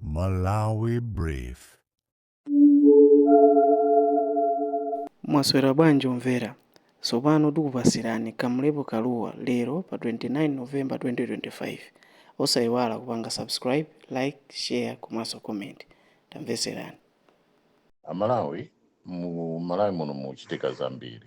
Malawi Brief. Mwaswera bwanji omvera? Tsopano tikupasirani Kamlepo Kalua lero pa 29 November 2025. Osaiwala kupanga subscribe, like, share komanso comment. Tamvetserani. Amalawi, mu Malawi muno muchitika zambiri.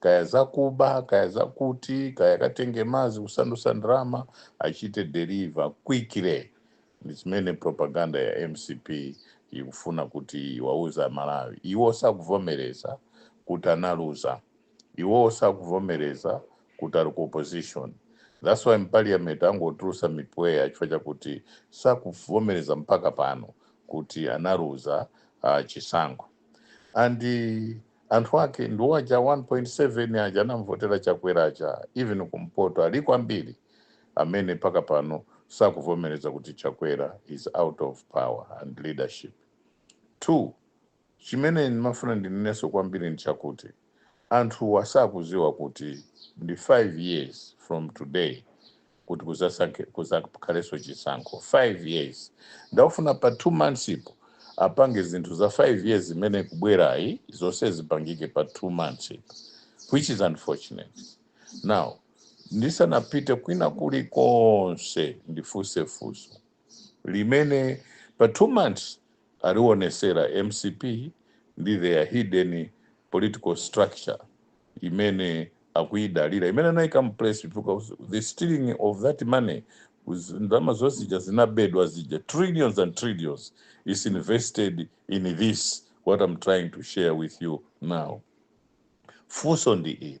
kaya zakuba kaya zakuti kaya katenge mazi kusandusa ndrama achite deliver quickly ndi zimene propaganda ya mcp ikufuna kuti iwauze amalawi iwo sakuvomereza kuti analuza iwowo sakuvomereza kuti ali ku opposition thats why mu parliament angotulusa mipweya chifukwa chakuti sakuvomereza mpaka pano kuti analuza uh, chisankho and Anthu ake ndiwo aja 1.7 aja anamvotera chakwera aja even kumpoto aliko ambiri amene mpaka pano sakuvomereza kuti chakwera is out of power and leadership 2 chimene ndimafuna ndineneso kwambiri ndichakuti anthuwa sakuziwa kuti ndi 5 years from today kuti kuzasankhe kuzakhaleso chisankho 5 years nde akufuna pa 2 months ipo apange zinthu za 5 years imene kubwerayi zonse zipangike pa 2 months ipo which is unfortunate now ndisanapite kwina kuli konse ndifunse funso limene pa 2 months alionesera mcp ndi their hidden political structure imene akuyidalira imene anaika mu place because the stealing of that money was- ndalama zonse zija zinabedwa zija trillions and trillions is invested in this what I'm trying to share with you now funso ndi ili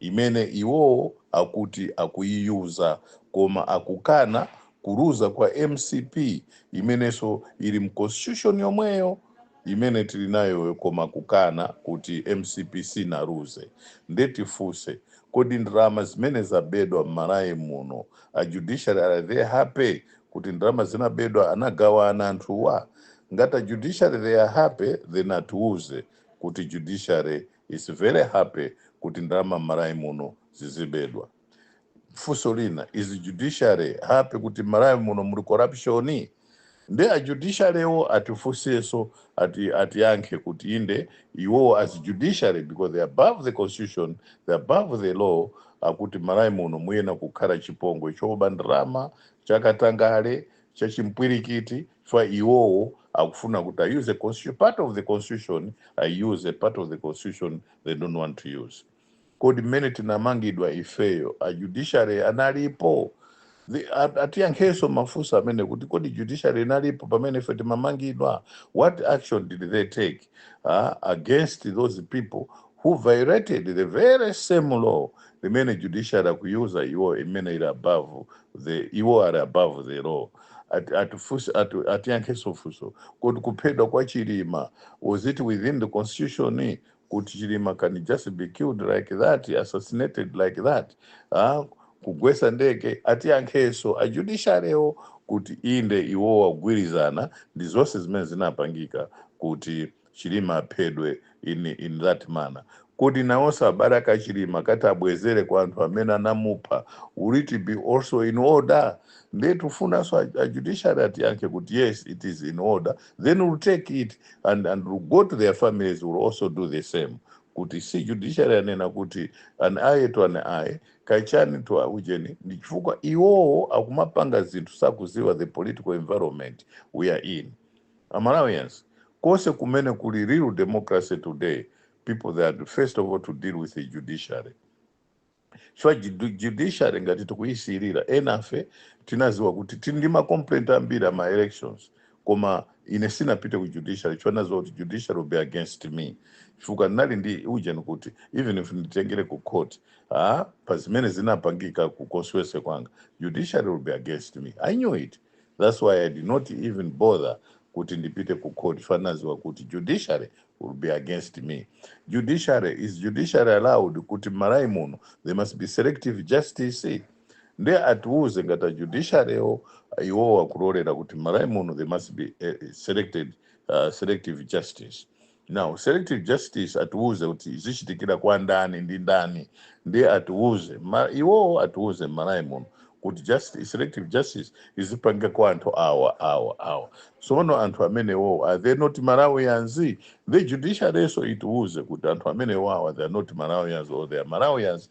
imene iwo akuti akuyiyuza koma akukana kuluza kwa mcp imeneso ili mu constitution yomweyo imene tili nayo koma kukana kuti mcp sinaluze nde tifunse kodi ndalama zimene zabedwa mmalawi muno a judiciary are they happy kuti ndalama zinabedwa anagawana anthuwa? Ngati a judiciary they are happy then atiuze kuti judiciary is very happy kuti ndalama mmalawi muno zizibedwa. Funso lina is judiciary happy kuti mmalawi muno muli corruption? Nde a judiciary wo atifunseso ati atiyankhe kuti inde iwowo as judiciary because they are above the constitution, they are above the law akuti mmalawi muno muyena kukhala chipongwe choba ndalama, chakatangale, chachimpwirikiti. chifukwa iwowo akufuna kuti a use constitution part of the constitution a use a part of the constitution they don't want to use kodi mmene tinamangidwa ifeyo a judiciary analipo The- at- atiyankhenso mafunso amene kuti kodi judiciary inalipo pamene ife timamangidwa what action did they take uh, against those people who violated the very same law limene judiciary akuyuza iwo imene ili above the iwo are above the law Ati- atifunse- ati- atiyankhenso funso kodi kuphedwa kwa chilima was it within the constitution kuti chilima can just be killed like that assassinated like that ah, kugwesa ndege atiyankheso a judiciary wo kuti inde iwowo akugwilizana ndizose zimene zinapangika kuti chilima aphedwe in in that manner kodi nawoso abale ake achilima akati abwezele kwa anthu amene anamupha will it be also in order ndiye tikufunaso a, a judiciary atiyankhe kuti yes it is in order then we'll take it and, and we'll go to their families we'll also do the same kuti si judiciary anena kuti an eye to an eye Kaya chani to a ujeni ndi chifukwa iwowo akumapanga zinthu sakuziwa the political environment we are in. A Malawians kose kumene kuli real democracy today people they are first of all to deal with the judiciary chifukwa judu- judiciary ngati tikuyisiyirira enafe tinaziwa kuti tili ndi ma complaint ambiri a ma elections koma ine sinapite ku judiciary chifukwa naziwa kuti judiciary will be against me chifukwa ndinali ndi ujeni kuti even if nditengere ku court ah, pa zimene zinapangika ku constituency kwanga judiciary will be against me i knew it that's why i did not even bother kuti ndipite ku court chifukwa naziwa kuti judiciary will be against me judiciary is judiciary allowed kuti m'malawi muno there must be selective justice nde atiuze ngati a judiciary wo iwowo akulolera kuti m'malawi muno there must be a selected uh, selective justice now selective justice atiuze kuti izichitikira kwa ndani ndi ndani ndi atiuze ma, iwowo atiuze m'malawi muno kuti justice, selective justice izipangika kwa anthu awa awa awa sono anthu amenewo are they not malawians the judiciary so itiuze kuti anthu amenewa awa they are not malawians or they are malawians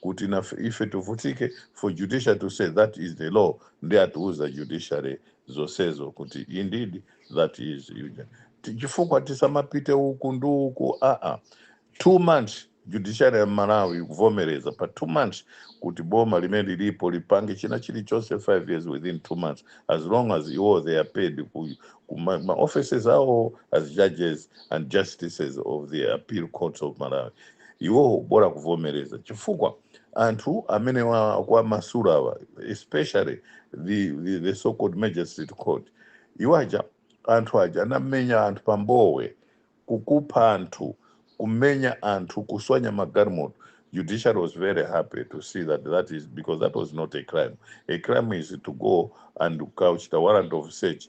kuti ife tivutike for judiciary to say that is the law ndi atiuza judiciary zonsezo kuti indeed that is yuja Ti- chifukwa tisamapite uku ndi uku aa two months judiciary ya malawi ikuvomereza pa two months kuti boma limene lilipo lipange china chilichonse five years within two months as long as iwo they are paid ku, ku ma, ma offices awo as judges and justices of the appeal courts of malawi iwo bola kuvomereza chifukwa anthu amene akuwamasulawa especially the, the, the so called magistrate court iwo aja anthu aja anamenya anthu pambowe kukupha anthu kumenya anthu kuswanya magalimoto judiciary was very happy to see that that is because that was not a crime a crime is to go and ukachite warrant of search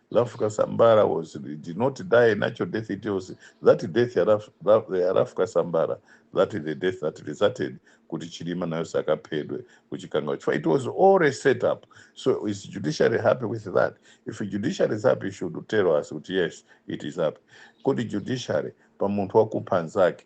Ralph Kasambara was did not die natural death. It was that death ya Ralph, Ralph, ya Ralph Kasambara that is the death that resulted kuti Chilima nayo sakaphedwe kuchikangawa. Chifukwa It was all a set up. So is judiciary happy with that? If judiciary is happy, it should tell us kuti yes, it is happy. Kodi judiciary pa munthu wakupha nzake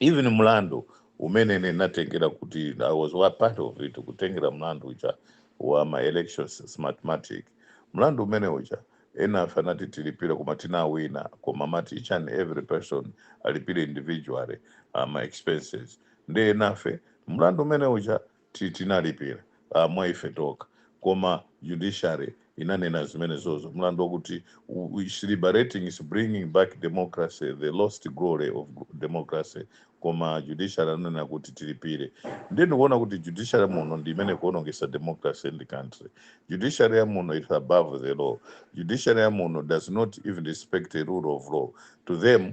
Even mlandu umene ine ndatengera kuti I was part of it kutengera mlandu uja wa ma elections smartmatic mlandu umene uja enafe anati tilipire koma tinawina koma amati each and every person alipire individually uh, ma expenses ndi enafe mlandu umene uja ti- tinalipira ah, mwa ife tokha koma judiciary inanena zimenezozo mlandu wakuti u- u- is liberating is bringing back democracy the lost glory of go- democracy koma judiciary ananena kuti tilipire ndiye ndikuona kuti judiciary muno ndi imene ikuonongesa democracy in the country judiciary ya muno is above the law judiciary ya muno does not even respect the rule of law to them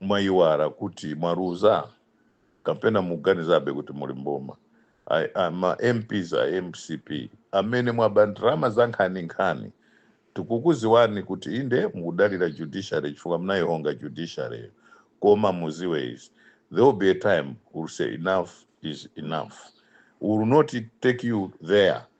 mwaiwara kuti mwaluza? kapena mukuganizabe kuti muli mboma? ma mps a mcp amene mwaba ndrama zankhaninkhani tikukuziwani kuti inde mukudalira judiciary chifukwa munaihonga judiciary yo koma muziwe izi there will be a time we will say enough is enough we will not take you there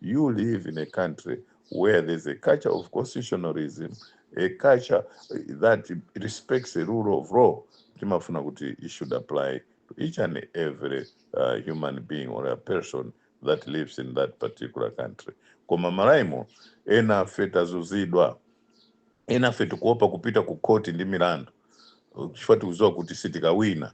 You live in a country where there's a culture of constitutionalism, a culture eh, that respects the rule of law. Timafuna kuti it should apply to each and every uh, human being or a person that lives in that particular country. Koma Malawi muno enafe tazuzidwa, enafe tikuopa kupita ku court ndi milandu chifukwa tikuziwa kuti sitikawina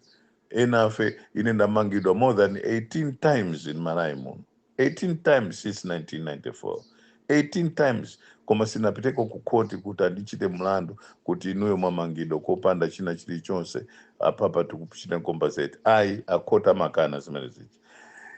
enafe ine ndamangidwa more than 18 times in malawi muno 18 times since 1994 18 times koma sinapiteko ku khoti kuti ndikachite mlandu kuti inuyo mwamangidwa kopanda china chilichonse apapa tikuchitani compensate ayi a khoti amakana zimene zija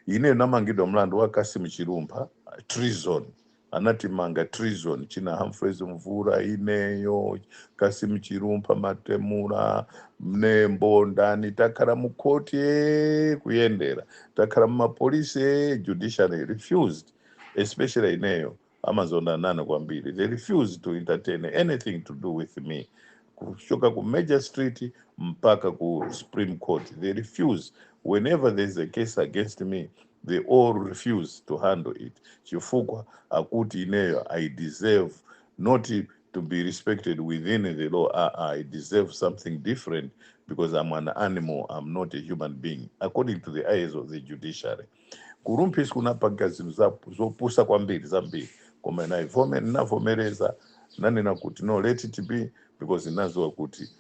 ineyo namangidwa mlandu wa kasimu chilumpha treason Anatimanga treason china Humphreys Mvura ineyo Kasim Chilumpha Matemula Mnembo ndani takhala mu court eh, kuyendera takhala mu mapolisi eh, judiciary refused especially ineyo amazondana nane kwambiri they refused to entertain anything to do with me kuchoka ku Magistrate mpaka ku Supreme Court they refuse whenever there is a case against me they all refuse to handle it chifukwa akuti ineyo i deserve not to be respected within the law aa i deserve something different because i'm an animal i'm not a human being according to the eyes of the judiciary kulumphitsa kunapanga zinthu za- zopusa kwambiri zambiri koma inavome- inavomereza nanena kuti no let it be because inaziwa kuti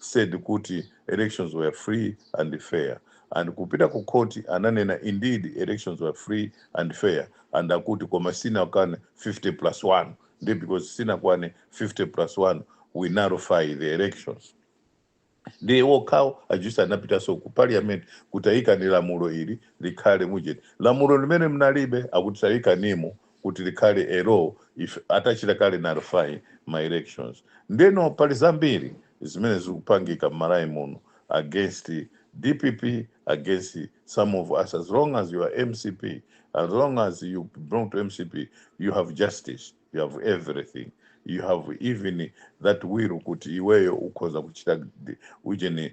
said kuti elections were free and fair and kupita ku court ananena indeed elections were free and fair and akuti koma sinakwane 50 plus 1 ndiye because sinakwane 50 plus 1 we nullify the elections ndiye wokhawo ajusi anapitaso ku parliament kuti ayikani lamulo ili likhale mugazette lamulo limene mnalibe akuti tayikanimo kuti likhale a law ife atachita kale nullify ma elections ndeno pali zambiri zimene zikupangika mmalawi muno against dpp against some of us as long as you are mcp as long as you belong to mcp you have justice you have everything you have even that will kuti iweyo ukhoza kuchita ujeni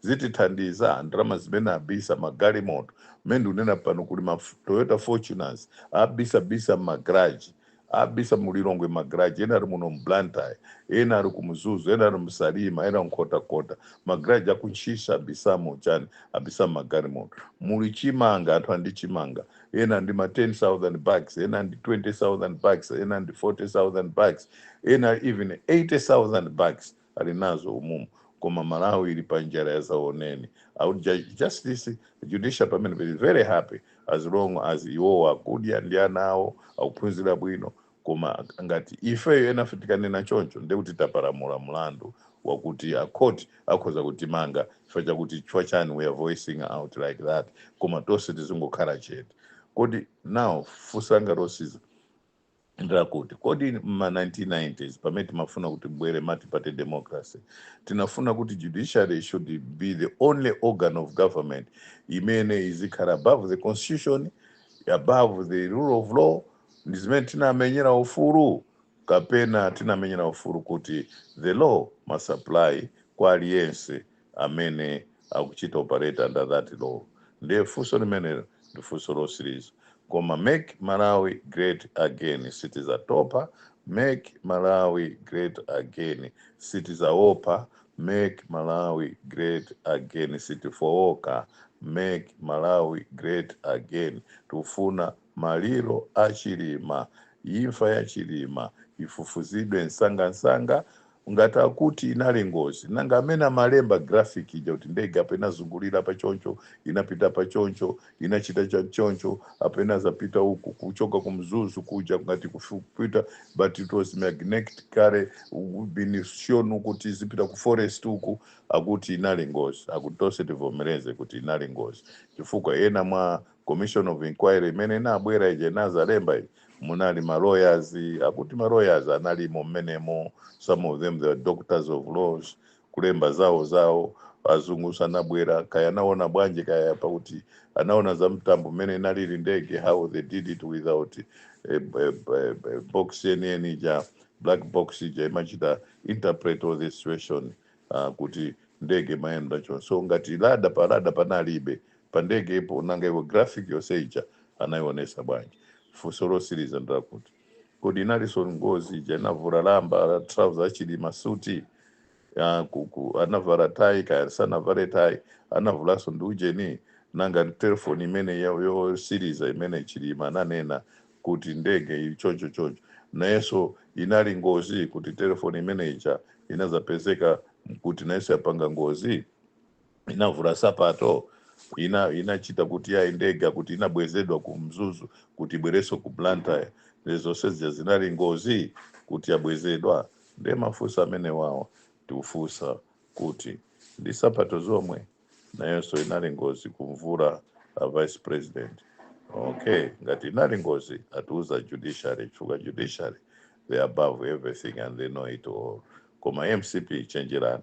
zitithandiza? Ndalama zimene abisa magalimoto, mmene ndikunena pano kuli ma Toyota Fortuners abisabisa mma garage, abisa mu Lilongwe mma garage, ena ali muno mu Blantyre, ena ali ku Mzuzu, ena ali mu Salima, ena ku Nkhotakota, ma garage a ku Ntchisi abisamo chani? Abisamo magalimoto. Muli chimanga, anthu ali ndi chimanga, ena ali ndi ma 10,000 bags, ena ali ndi 20,000 bags, ena ali ndi 40,000 bags, ena even 80,000 bags. ali nazo umumu koma malawi ili pa njala yadzaoneni awa a justice judicial pamene be very happy as long as iwowo akudya ndi ana awo akuphunzira bwino koma ngati ifeyo enafe tikanena choncho ndiye kuti tapalamula mlandu wakuti a court akhoza kutimanga chifukwa chakuti chifukwa chani we are voicing out like that koma tonse tizingokhala chete kodi nawo funso langa losiliza Ndilakuti, kodi m'ma 1990s pamene timafuna kuti kubwere multiparty democracy, tinafuna kuti judiciary should be the only organ of government imene izikhala above the constitution, above the rule of law, ndi zimene tinamenyera ufulu? Kapena tinamenyera ufulu kuti the law must apply kwa aliyense amene akuchita operate under that law ndiye funso limenelo ndi funso losiliza koma make malawi great again sitizatopa make malawi great again sitizaopa make malawi great again sitifooka make malawi great again tikufuna Maliro a Chilima, imfa ya Chilima ifufuzidwe nsangansanga, ngati akuti inali ngozi nanga amene amalemba graphic ija kuti ndege apa inazungulira apa choncho, inapita apa choncho, inachita cha choncho, apa inazapita uku kuchoka ku Mzuzu kuja ngati kupita but it was magnetically been shown kuti izipita ku forest uku akuti inali ngozi, akuti tonse tivomereze kuti inali ngozi chifukwa ena mwa commission of inquiry imene inabwera ija inazalemba munali ma lawyers akuti ma lawyers analimo mmenemo some of them they are doctors of laws kulemba zawo zawo azungu sanabwera kaya anaona bwanji kaya pakuti anaona za mtambo mmene inalili ndege how they did it without eh, eh, eh, eh, box yeniyeni ija black box ija imachita interpret all the situation uh, kuti ndege imayenda choncho so ngati radar pa radar panalibe pa ndege ipo nanga iwo graphic yonse ija anayionesa bwanji? funso losiliza ndi lakuti kodi inalinso ngozi ija inavula lamba trouser a chilima suit anavala tie kaya sanavale tie anavulanso ndi ujeni? nanga telephone imene yosiliza imene chilima ananena kuti ndege ili choncho choncho nayenso inali ngozi kuti telephone imene ija inazapezeka kuti nayenso yapanga ngozi? inavula sapato inachita kuti ya ndege kuti inabwezedwa ku mzuzu kuti ibwerenso ku blantyre nde zonse zija zinali ngozi kuti yabwezedwa nde mafunso amenewawa tikufunsa kuti ndi sapato zomwe nayonso inali ngozi kumvula a vice president okay ngati inali ngozi atiuza judiciary chifukwa judiciary they are above everything and they know it all koma mcp chenjerani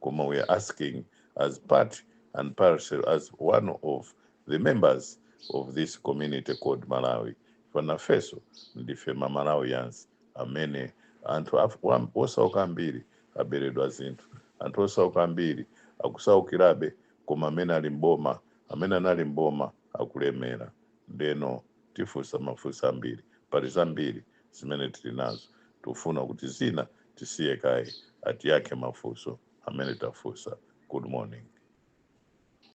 koma we are asking as part and parcel as one of the members of this community called malawi pano ifeso ndife mamalawians amene anthu osauka ambiri aberedwa zinthu anthu osauka ambiri akusaukirabe koma amene ali mboma amene anali mboma akulemera ndeno tifunsa mafunso ambiri pali zambiri zimene tili nazo tikufuna kuti zina tisiye kaye atiyankhe mafunso amene tafunsa good morning